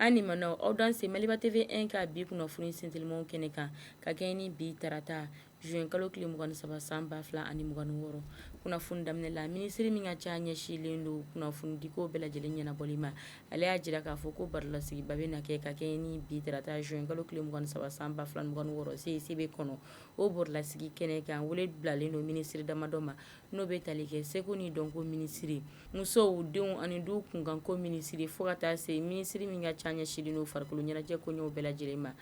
An ni ma aw danse Maliba TV1 ka bi kunnafoni sintilimaw kɛnɛ kan ka kɛɲɛ ni bi tarata zuwɛn kalo tile mugan ni saba san ba fila ani mugan wɔɔrɔ kunnafoni daminɛ la minisiri min ka ca ɲɛsinlen don kunnafonidiko bɛɛ lajɛlen ɲɛnabɔli ma ale y'a jira k'a fɔ ko barolasigiba bɛna kɛ ka kɛɲɛ ni bi tarata zuwɛn kalo tile mugan ni saba san ba fila ani mugan wɔɔrɔ CICB kɔnɔ o barolasigi kɛnɛ kan wele bilalen don minisiri damadɔ ma n'o bɛ tali kɛ seko ni dɔnko minisiri musow denw ani du kunkanko minisiri fo ka taa se minisiri min ka ca ɲɛsinlen don farikolo ɲɛnajɛ koɲɛw bɛɛ lajɛlen ma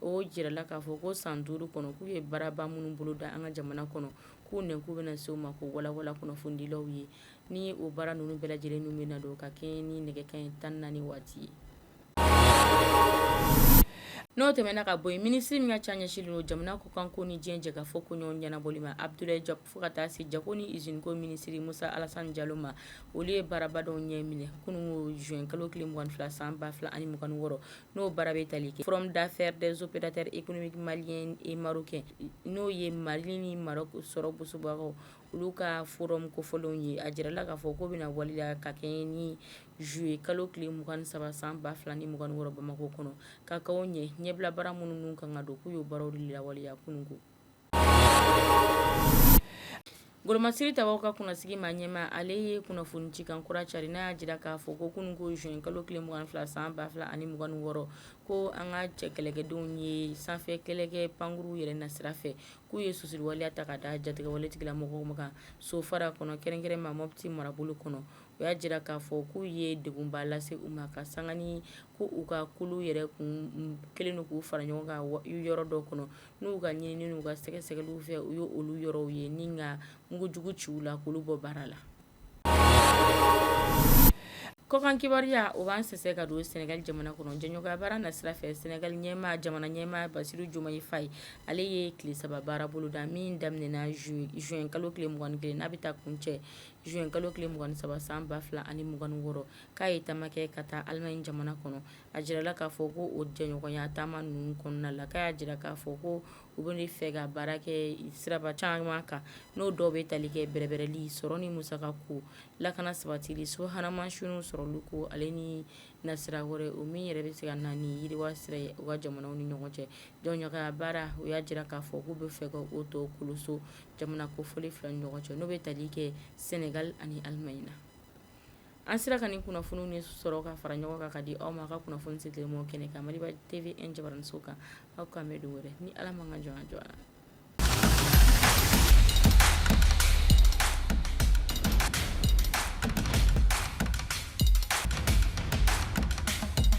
o jirala k'a fɔ ko san duuru kɔnɔ k'u ye baaraba minnu bolo da an ka jamana kɔnɔ k'u nɛnkun bɛna se u ma k'u walawala kunnafonidilaw ye ni o baara ninnu bɛɛ lajɛlen ninnu bɛna don ka kɛɲɛ ni nɛgɛ kanɲɛ tan ni naani waati ye n'o tɛmɛna ka bɔ yen minisiri min ka ca ɲɛsinlen don jamana kɔkanko ni diɲɛ jɛkafɔ koɲɛw ɲɛnabɔli ma Abdulayi Jɔpu fo ka taa se jako ni izini ko minisiri Musa Alasani Jalo ma olu ye baaraba dɔ ɲɛ minɛ kunun ko zuwɛn kalo tile mugan ni fila san ba fila ani mugan wɔɔrɔ n'o baara bɛ tali kɛ forum d'affaires des opérateurs économiques maliens et marocains n'o ye mali ni Marɔku sɔrɔ bosobagaw olu ka forum kofɔlen ye a jirala k'a fɔ ko bɛna waleya ka kɛɲɛ ni zuluye kalo tile mugan ni saba san ba fila ni mugan wɔɔrɔ bamakɔ kɔnɔ ka kɛ ɲɛ ɲɛbila baara minnu kan ka don k'u y'o baaraw lawaleya kunun ko golomasiri tabaw ka kunnasigi maa ɲɛma ale ye kunnafoni ci kan kura cari n'a y'a jira k'a fɔ ko kunun ko zuwɛn kalo tile mugan ni fila san ba fila ani mugan wɔɔrɔ ko an ka cɛ kɛlɛkɛdenw ye sanfɛ kɛlɛkɛ pankurun yɛrɛ na sira fɛ k'u ye susuriwaleya ta ka da jatigɛwaletigila mɔgɔw kan sofara kɔnɔ kɛrɛnkɛrɛn ma mɔti marabolo kɔnɔ o y'a jira k'a fɔ k'u ye degunba lase u ma ka sanga ni ko u ka kulu yɛrɛ kun kɛlen don k'u fara ɲɔgɔn kan yɔrɔ dɔ kɔnɔ n'u ka ɲinini u ka sɛgɛsɛgɛli fɛ u ye olu yɔrɔw ye ni ka mugu jugu ci u la k'olu bɔ baara la Kɔkan kibaruya o b'an sɛsɛ ka don sɛnɛgali jamana kɔnɔ jɛɲɔgɔnya baara na sira fɛ sɛnɛgali ɲɛma jamana ɲɛma Basiru Jomayi Fayi ale ye tile saba baara bolo da min daminɛna zuwɛn kalo tile mugan ni kelen n'a bɛ taa kuncɛ zuwɛn kalo tile mugan ni saba san ba fila ani mugan wɔɔrɔ k'a ye taama kɛ ka taa alimaɲi jamana kɔnɔ a jirala k'a fɔ ko o jɛɲɔgɔnya taama ninnu kɔnɔna la k'a y'a jira k'a fɔ ko U bɛ de fɛ ka baara kɛ siraba caman kan n'o dɔw bɛ tali kɛ bɛrɛbɛrɛli sɔrɔ ni musaka ko lakana sabatili subahana mansinw sɔrɔli ko ale ni nasira wɛrɛ o min yɛrɛ bɛ se ka na ni yiriwa sira ye u ka jamanaw ni ɲɔgɔn cɛ jɛɲɔgɔnya baara u y'a jira k'a fɔ k'u bɛ fɛ ka o tɔ koloso jamana kofɔlen fila ni ɲɔgɔn cɛ n'o bɛ tali kɛ sɛnɛgali ani alimaɲi na An sera ka nin kunnafoni ni sɔrɔ ka fara ɲɔgɔn kan ka di aw ma aw ka kunnafoniso teliman kɛnɛ kan Maliba TV jabaraninso kan aw k'an bɛn don wɛrɛ ni ala man ka jɔn jɔ la